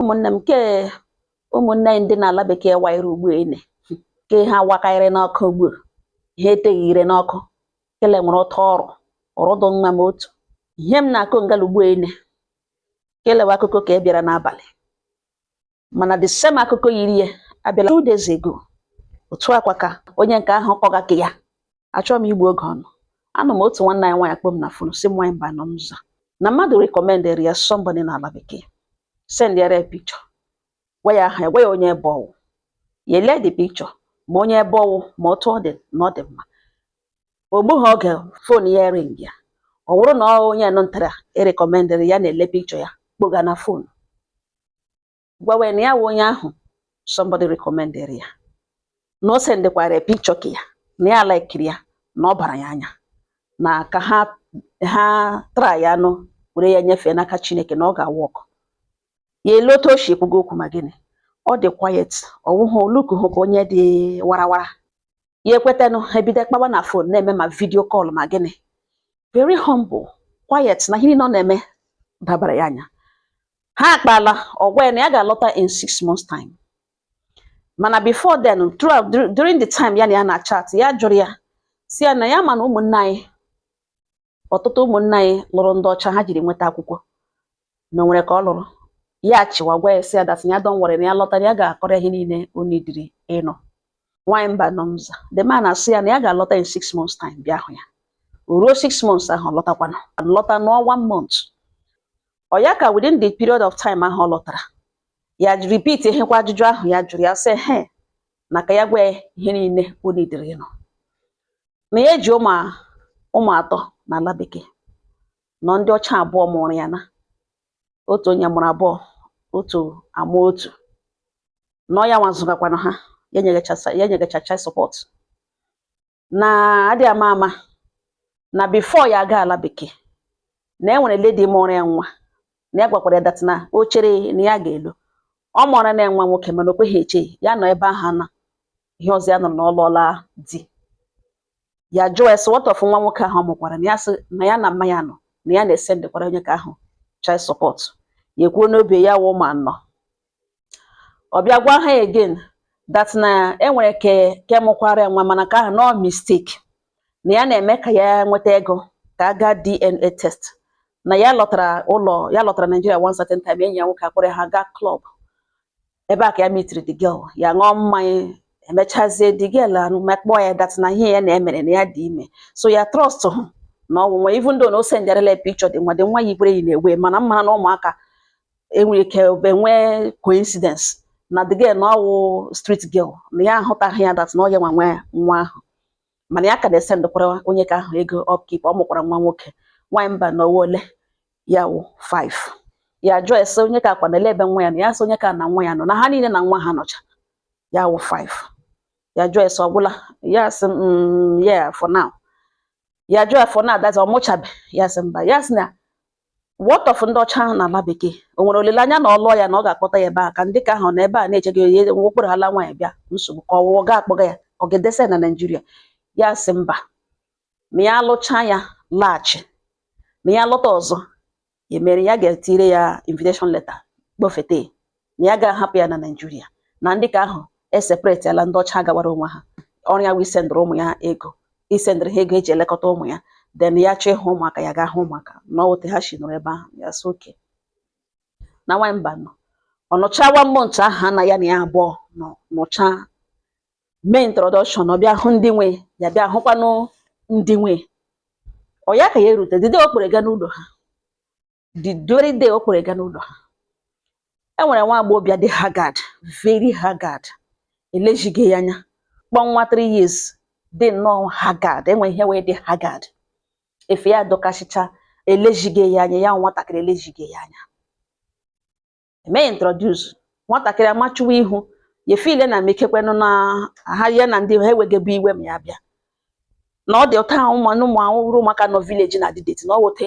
ụmụnne m nke ụmụnne anyị ndị n'ala bekee wayere ugbu ene ke ha wakarịrị n'ọkụ ugbu ha eteghị ire n'ọkụ kele nwere ụtọ ọrụ ọrụ dị mma m otu ihe m na-akụ ngala ugbu ene kelewa akụkọ ke a bịara n'abalị mana the same akụkọ yiri ya abịala two days ago otu a kwa ka onye nke ahụ kọga ke ya achọghị m igbu oge ụnụ anọ m otu nwanne anyị nwaanyị kpọ m na fon sị m nwaanyị Mbanọ m aza na mmadụ recommendịrị ya somebody n'ala bekee send ya picture gwa ya aha gwa ya onye ebe ọ wụ ya elee the picture ma onye ebe ọ wụ ma otu ọ dị na ọ dị mma o gbughị oge fon ya ringa ọ bụrụ na onye nụ nta e recommendịrị ya na-ele picture ya kpọga na fon gwawa ya na ya wụ onye ahụ somebody recommendịrị ya na o sendekwara ya picture ke ya na ya likeịrị ya na ọ bara ya anya na ka ha tryanụ were ya nyefee n'aka Chineke na ọ ga-awork ya elee otu o si ekwuga okwu ma gịnị ọ dị quiet ọ wụghụ o lookuhụ ka onye dị warawara ya ekwetanụ ha ebido kpawa na fon na-eme ma video call ma gịnị very humble quiet na ihe niile ọ na-eme dabara ya anya ha akpala ọ gwa ya na ya ga-alọta in six months time mana before then throughout during the time ya na ya na-achat ya jụrụ ya sị ya na ya ma na ụmụnne anyị ọtụtụ ụmụnne anyị lụrụ ndị ọcha ha jiri nweta akwụkwọ na o nwere ke ọ lụrụ ya chịwa gwa ya sị ya that ya don't worry na ya lọta na ya ga-akọrọ ihe niile o needịrị ịnụ nwanyị Mbanọ m aza the man asị ya na ya ga-alọta in six months time bịa hụ ya o ruo six months ahụ lọtakwana lọta nọọ one month ọ ya ka within the period of time ahụ ọ lọtara ya repeatiekwa ajụjụ ahụ ya jụrụ ya sị he na ka ya gwa ya ihe niile o needịrị ịnụ na ya ji ụmụ atọ na ala bekee na ọ ndị ọcha abụọ mụụrụ ya na otu onye mụrụ abụọ otu amụọ otu na ọ ya nwa zụgakwanụ ha ya nyegacha child support na adị ama ama na before ya aga ala bekee na e nwere lady mụụrụ ya nwa na ya gwakwara ya that na o chere na ya ga-alụ ọ mụọrana ya nwa nwoke mana o kweghị eche ya nọ ebe ahụ na ihe ọzọ ya nụrụ na ọ lụọla di ya jụọ ya sị what of nwa nwoke ahụ ọ mụkwara na ya sị na ya na mma ya nọ na ya na-esendịkwara onye ke ahụ child support ya ekwuo n'obi ya wụ ụmụ anọ ọ bịa gwa ya again that na e nwere ke mụkwara ya nwa mana ke ahụ na ọ mistake na ya na-eme ka ya nweta ego ka a gaa DNA test na ya lọtara ụlọ ya lọtara Nigeria one certain time enyi ya nwoke akpọrọ ya ha gaa club ebe a ka ya meetiri the girl ya ṅụọ mmanya emechazie the girl akpọọ ya that na ihe ya na ya mere na ya dị ime so ya trusthụ na ọ wụ nwa even though na o sendarala ya picture the nwa the nwa yikwara ya na-ewe mana m mara na ụmụaka enwere ike enwee coincidence na the girl na ọwụ street girl na ya ahụtaghị ya that na ọ ya nwe nwa ya nwa ahụ mana ya ka na-esendekwara onye ka ahụ ego upkeep ọ mụkwara nwa nwoke nwaanyị Mbano ọwụ ole ya wụ 5 ya jụọ ya sị onye ka akwa na ele ebe nwa ya na ya sị onye ka na nwa ya nọ na ha niile na nwa ha nọcha ya wụ 5 ya jụọ ya sị ọgwụla ya sị mm, yeah for now ya jụọ ya for now that is ọ mụchabe ya sị mba ya sị na what of ndị ọcha ahụ n'ala bekee o nwere olileanya na ọ lụọ ya na ọ ga-akpọta ya ebe a ka ndị ka ahụ na ebe a na-eche gị onye kpọrọla nwaanyị bịa nsogbu ka ọwụwa ga akpọga ya ọ ga-edesa ya na Naịjirịa ya sị mba ma ya lụchaa ya laghachi ma ya lọta ọzọ ya mere ya ga-etire ya invitation letter kpọfete na ya ga-ahapụ ya na Naịjirịa na ndị ka ahụ eseparateala ndị ọcha gawara onwe ha ọrụ ya wụ isendịrị ụmụ ya ego isendịrị ha ego eji elekọta ụmụ ya then ya chọọ ịhụ ụmụaka ya ga-ahụ ụmụaka na ọwụ otu ha si nọrọ ebe ahụ ya sị okay na nwanyị Mbano ọ nọcha one month ahụ ha na ya na ya abụọ nọ nọcha mee introduction ọ bịa hụ ndị nwe ya bịa hụkwanụ ndị nwe ọ ya ka ya erute the day ọ kpọrọ ga n'ụlọ ha the very day ọ kpọrọ ga n'ụlọ ha e nwere nwa agbọghọbịa dị haggard very haggard elezighị ya anya kpọ nwa 3 years dị nnọọ haggard enwe ihe wee dị haggard efe ya dọkasịcha elezighị ya anya ya nwatakịrị elezighị ya anya mee introduce nwatakịrị amachuwa ihu ya feel na mekekwenụ na ha ya na ndị ha ewegebe iwe ma ya bịa na ọ dị otu ahụ ụmụ ụmụ ahụhụrụ ụmụaka nọ village na-adị dirty na ọ wụ otu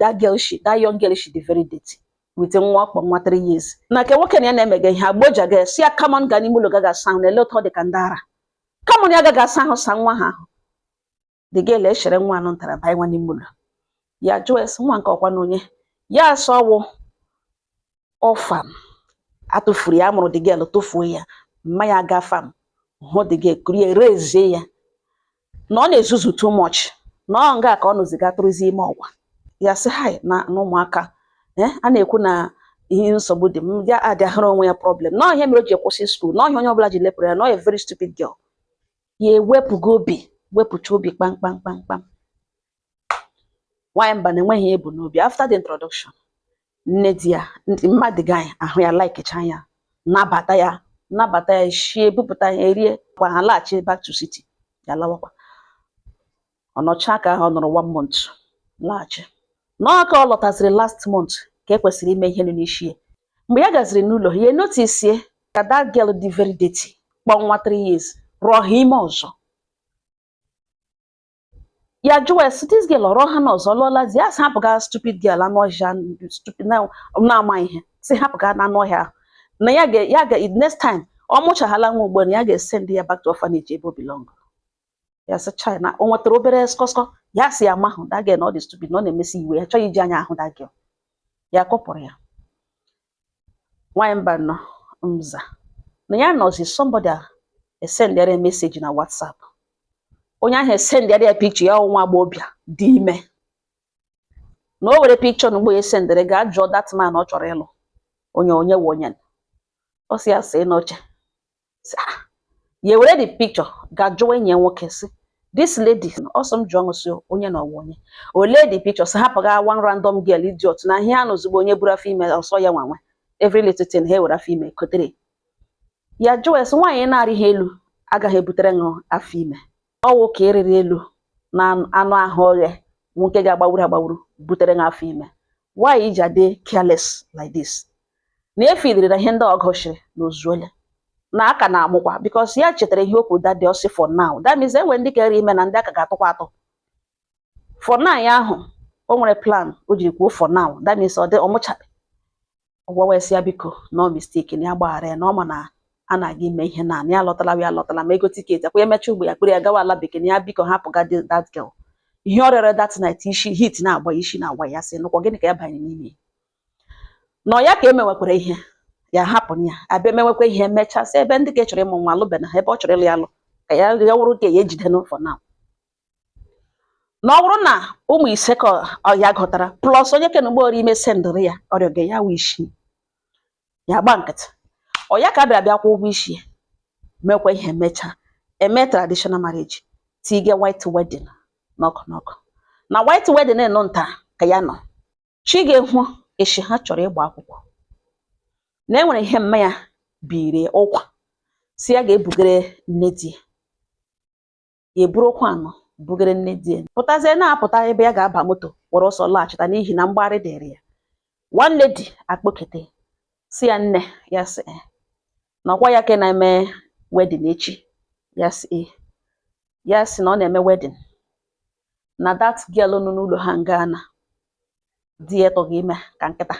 that girl shi that young girl shi dị very dirty with nwa ọ kpọ nwa 3 years na ke nwoke na ya na-emega ihe agboja ya sị ya come on ga n'ime ụlọ gaga asa ahụ na ele otu ọ dị ka ndị ara come on ya gaga asa ahụ sa nwa ha ahụ the girl echere nwa anụ ntara banyewa n'ime ụlọ ya jụọ ya sị nwa nke ọ kwanụ onye ya asị ọwụ orphan atụfuru ya amụrụ the girl tụfuo ya mma ya aga farm hụ the girl kuru ya raisie ya na ọ na-ezuzu too much na ọ nga ka ọ nọzi ga tụrụzi ime ọgwa ya sị ha na ụmụaka eh, a na-ekwu na ihe nsogbu dị m ya adịghara onwe ya problem na ihe mere o ji kwụsị skuul na ọ ihe onye ọbụla ji lepụrụ ya na ọ ya very stupid girl ya ewepụga obi wepụcha obi kpam kpam kpam kpam nwaanyị Mbano enweghị ihe o bu n'obi after the introduction nne di ya mmadụ gị ahụ ya likecha ya nabata ya nabata ya shie bupụta ya erie kwa ha laghachi back to city ya lawakwa ọ nọchaa ka ahụ ọ nọrọ one month laghachi nọọ ka ọ lọtaziri last month ka e kwesịrị ime ihe nụ n'isi ya mgbe ya gaziri n'ụlọ ha ya notice ka that girl dị very dirty kpọọ nwa three years rụọ ha ime ọzọ ya jụwa ya sị this girl ọrọ ha na ọzọ lụọlazi ya sị hapụga stupid girl anụ ọhịa stupid na- na-ama ihe sị hapụga na anụ ọhịa ahụ na ya ga ya ga next time ọ mụchaghala nwa ugbu a na ya ga-esend ya back to orphanage ebe o belong ya sị chai na o nwetara obere skọskọ ya sị ya mahụ that girl na ọ dị stupid na ọ na-emesi iwe ya chọghị iji anya ahụ that girl ya kọpụrụ ya nwaanyị Mbano mza na ya nọzi somebody esendịara ya message na WhatsApp onye ahụ esendịara ya picture ya nwa agbọghọbịa dị ime na o were picture na mgbe ya esendịrị gaa jụọ that man ọ chọrọ ịlụ onye onye wụ onye ọ sị ya see n'oche ah, ya ewere the picture gaa jụọ enyi ya nwoke sị this lady ọ sị m jụọ ṅụ sị onye na ọ wụ onye ole the picture sị hapụga one random girl idiot na ihe anụ ozugbo onye buru afọ ime ọ sị ya nwa nwe every little thing ha ewere afọ ime kotere ya jụọ ya sị nwaanyị na-arịha elu agaghị ebutere ṅụ afọ ime ọ wụ ka ị rịrị elu na anụ ahụ oghe wụ nke ga-agbawuru agbawuru butere gị afọ ime why i ji adị careless like this na ị feelịrị na ihe ndị ọ gụsịrị na o zuole na a ka na-amụkwa because ya chetara ihe okwu that day ọ sị for now that means e nwere ndị ka rị ime na ndị a ka ga-atụkwa atụ for now ya ahụ o nwere plan o jiri kwuo for now that means ọ dị ọ mụchabe ọ gwawa sị ya biko na ọ mistake na ya gbaghara ya na ọ ma na a na-aga ime ihe na ya alọtala ya alọtala ma ego ticket ọkwa ya emecha ugbo ya kpọrọ ya gawa ala bekee na ya biko hapụga dị- that girl ihe ọ rịọrọ that night isi heat na-agba ya, isi na-agwa ya sị nụkwa gịnị ka ya banye n'ime ya?" na ọ ya ka e mewekwara ihe ya hapụ ya abịa emewekwa ihe emechaa sị ebe ndị ka ị chọrọ ịmụ nwa alụbena ha ebe ọ chọrọ ịlụ ya alụ ka ya ya wụrụ ka ya ejide n'ụfọ na na ọ bụrụ na ụmụ ise ka ya gụtara plus onye ke nụ ugbo ọ rị ime sendịrị ya ọrịa ga ya wụ isii ya gba nkịtị ọ ya ka a bịara bịa kwụ ụgwọ isi ya mekwa ihe mechaa eme traditional marriage tige white wedding n'ọkụ n'ọkụ na white wedding na ọ taa ka ya nọ chi ga-eho echi ha chọrọ ịgba akwụkwọ na e nwere ihe mma ya biri ụkwa sị ya gaa bugere nne di ya ya eburu ụkwa nụ bugere nne di ya pụtazie na-apụta ebe ya ga-aba moto were ọsọ laghachita n'ihi na mgbagharị dịrị ya one lady akpọkete sị ya nne ya sị eh, na ọkwa ya ka na-eme wedding echi ya sị eh. ya sị na ọ na-eme wedding na that girl nọ n'ụlọ ha nga na di ya tụga ime ka nkịta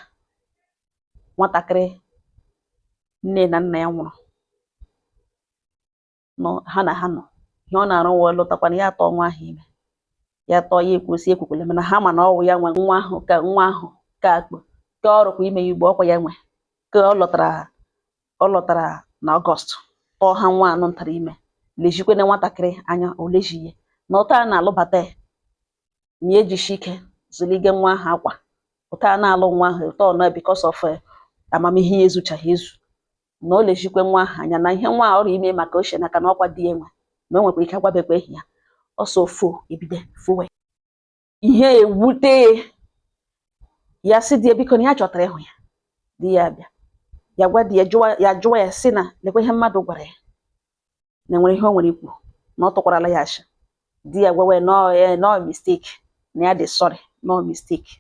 nwatakịrị nne na nna ya nwụrụ nọ ha na ha nọ ihe ọ na-arụ wee lụtakwana ya atụọ nwa ahụ ime ya tụọ ya ekwusi ekwukwele mana ha ma na ọwụ ya nwe nwa ahụ ka nwa ahụ ka akpụ ka ọ rụkwa ime ya ugbu a ọkwa ya nwe ka ọ lọtara ọ lọtara na August tụọ ha nwa anụ ntara ime lejikwene nwatakịrị anya o leji ya na ụta a na-alụbata ya ma ya ejishi ike zụlige nwa ahụ akwa ụta a na-alụ nwa ahụ ụta ọ na because of eh, amamihe ya ezuchaghị ezu na o lejikwe nwa ahụ anya na ihe nwa a ọ rụ ime ma ka o chi n'aka na ọkwa di ya nwe na o nwekwa ike agwabekwa ehi ya ọsọ fo ebido fowe ihe ewute ya ya sị di ya biko na ya chọtara ịhụ ya di ya bịa ya gwa di ya jụwa ya jụwa ya si na lekwa ihe mmadụ gwara ya na enwere ihe o nwere ikwu na ọ tụkwarala ya asị di ya gwawe na ọ ya na ọ mistake na ya dị sorry na ọ mistake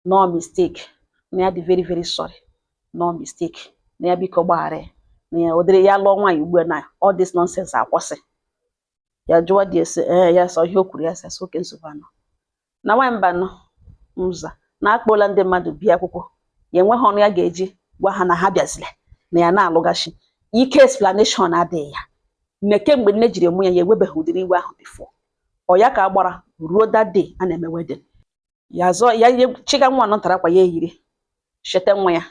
na ọ mistake na ya dị very very sorry na ọ mistake na ya biko gbaghara ya na ya ụdịrị ya lụọ nwaanyị ugbu a na all this nonsense akwụsị ya jụwa di ese ee ya sọ ihe o kwuru ya sị asị oke nsogbu anọ na nwaanyị mba nọ mza na akpọla ndị mmadụ bịa akwụkwọ ya enweghị ọnụ ya ga-eji gwa ha na ha bịazile na ya na-alụgashi ike explanation adịghị ya nne kemgbe nne jiri mụ ya ya ewebeghị ụdịrị iwe ahụ before ọ ya ka a gbara ruo that day a na-eme wedding ya zọ ya chịga nwa nọ ntara akwa ya eyiri cheta nwa ya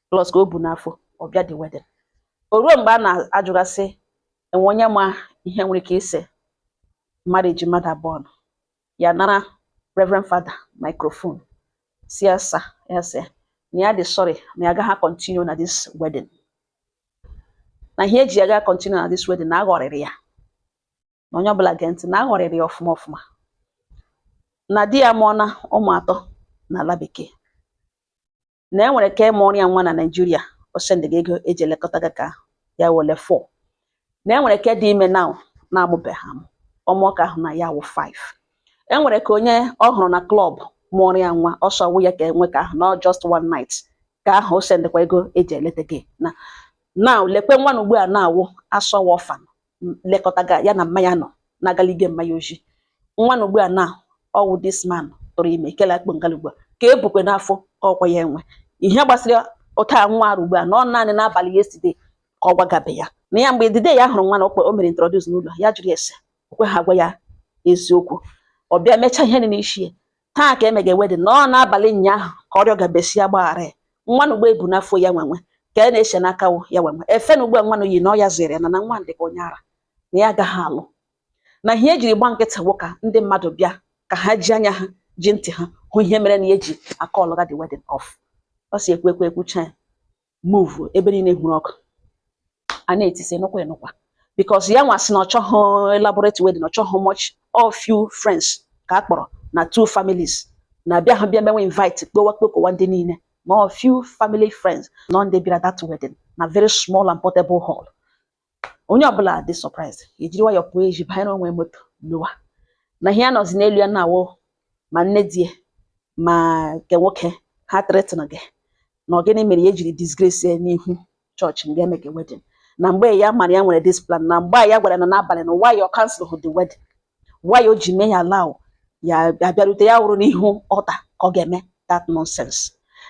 plus ka o bu n'afọ ọ bịa the wedding o ruo mgbe a na-ajụgasị enwe onye ma ihe nwere ike ise marriage mmadụ abụọ nọ ya nara reverend father microphone sị ya sir ya sị na ya dị sorry na ya agaghị continue na this wedding na ihe eji ya gaa continue na this wedding na aghọrịrị ya na onye ọbụla gee ntị na aghọrịrị ya ọfụma ọfụma na di ya mụọna ụmụ atọ n'ala bekee na e nwere ka mụọrọ ya nwa na Nigeria o sendịga ego eji elekọtaga ka ya wele 4 na e nwere ka dị ime now na-amụbeghị amụ ọ mụọ ka ahụ na ya wụ 5 e nwere ka onye ọ hụrụ na klọb mụọrọ ya nwa ọsọ wụ ya ka enwe ka ahụ na just one night ka ahụ o sendịkwa ego eji eletaga na now lekwe nwa na ugbu a na-awụ asọwa orphan lekọta ga ya na mma ya nọ na-agalige mma ya oji nwa na ugbu a na ọwụ this man tụrụ ime kele akpụ ngala ugbu a ka e bukwe n'afọ ka ọkwa ya enwe ihe gbasara ụta nwa ahụ ugbu a na ọ naanị n'abalị yesterday ka ọ gwagabe ya na ya mgbe dede ya hụrụ nwa na ọkwa o mere introduce n'ụlọ ya jụrụ ese o kweha agwa ya eziokwu ọ bịa mechaa ihe dị n'isi ya taa ka emege wedding na ọ n'abalị ụnyaahụ ka ọ rịọgabe sị ya gbaghara ya nwa na ugbu a ebu n'afọ ya nwenwe ka a e na-ese n'aka wụ ya nwenwe efe na ugbu a nwa na o yi na ọ ya zụrụ na na nwa dị ka onye ara na ya agaghị alụ na ihe ejiri gba nkịtị wụ ka ndị mmadụ bịa ka ha ji anya ha ji ntị ha hụ ihe mere na ya eji akọlụga the wedding off ọ si ekwu ekwu ekwucha ya move ebe niile hụrụ ọkụ a na-etisi nụkwa enụkwa because ya nwa sị na ọ chọghị elaborate wedding ọ chọghị much all few friends ka a kpọrọ na two families na abịa ha bịa mewe invite kpowa kpokowa ndị niile na ọ few family friends nọ ndị bịara that wedding na very small and portable hall onye ọbụla dị surprise ejiri nwayọọ pụọ eji banyere onwe moto lọwa na ihe a nọzi n'elu ya na-awụ ma nne di ya ma nke nwoke ha threaten ge na ọ gịnị mere ya ejiri disgrace ya n'ihu chọọchị nga emege wedding na mgbe ya mara ya nwere this plan na mgbe ya gwara na n'abalị na why ọ cancel hụ the wedding Why o ji mee ya allow ya abịarute ya wụrụ n'ihu altar ka ọ ga-eme that nonsense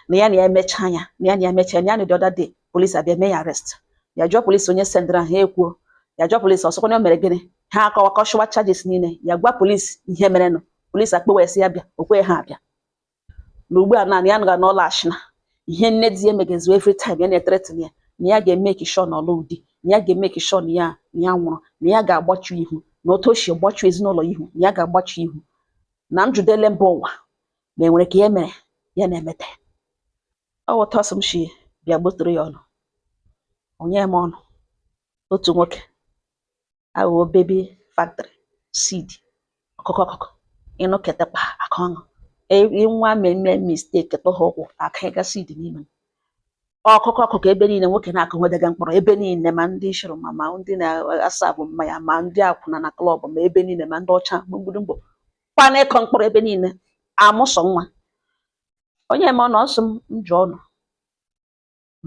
na ya emechaa ya na ya emechaa ya na the other day police abịa mee ya arrest ya jụọ police onye sendịra ha ekwuo ya jụọ police ọ sịkwa na o mere gịnị ha akọwa kọshụwa charges niile ya gwa police ihe merenụ police akpọwa ya sị ya bịa o kweghị ha abịa na ugbu a naanị ya nọga n'ụlọ ashina ihe nne di ya emegezu every time ya na-ethreaten ya na ya ga-emeki sure na ọ lụ di na ya ga-emeki sure na ya nwụrụ na ya ga-agbachu ihu na otu o si gbachu ezinụlọ ihu na ya ga-agbachu ihu na njụdele mba ụwa ma enwere ka ya mere ya na-emete ọ wụta ọ sị m shi bịa gbotoro ya ụnụ onye m ọnụ otu nwoke aghụghọ baby factory side ọkụkọ ọkụkọ ịnụ ketekwa aka ọṅụ nwa mmemme mistake tụha ụkwụ aka ịga side n'ime ọkụkọ ọkụkọ ebe niile nwoke na-akụ nwedega mkpụrụ ebe niile ma ndị shụrụ ma ndị na-aserve mmanya ma ndị akwụna na klọb ma ebe niile ma ndị ọcha mgbidi mgbo kwana ịkụ mkpụrụ ebe niile amụsọ nwa onye ma ọ nọ ọ sị m jụọ ụnụ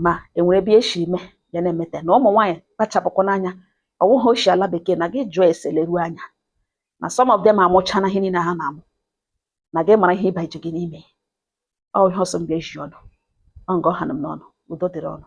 ma enwere ebe e shi mee ya na-emete na ụmụ nwaanyị kpachapụkwanụ anya ọ wụghị o shi ala bekee na gị jụọ ese leruo anya na some of them amụchana ihe niile ha na-amụ na gị mara ihe ị bajege n'ime ọ ihe ọ sị m bịa zie ụnụ ọ nga ọ ha m n'ọnụ udo dịrị ụnụ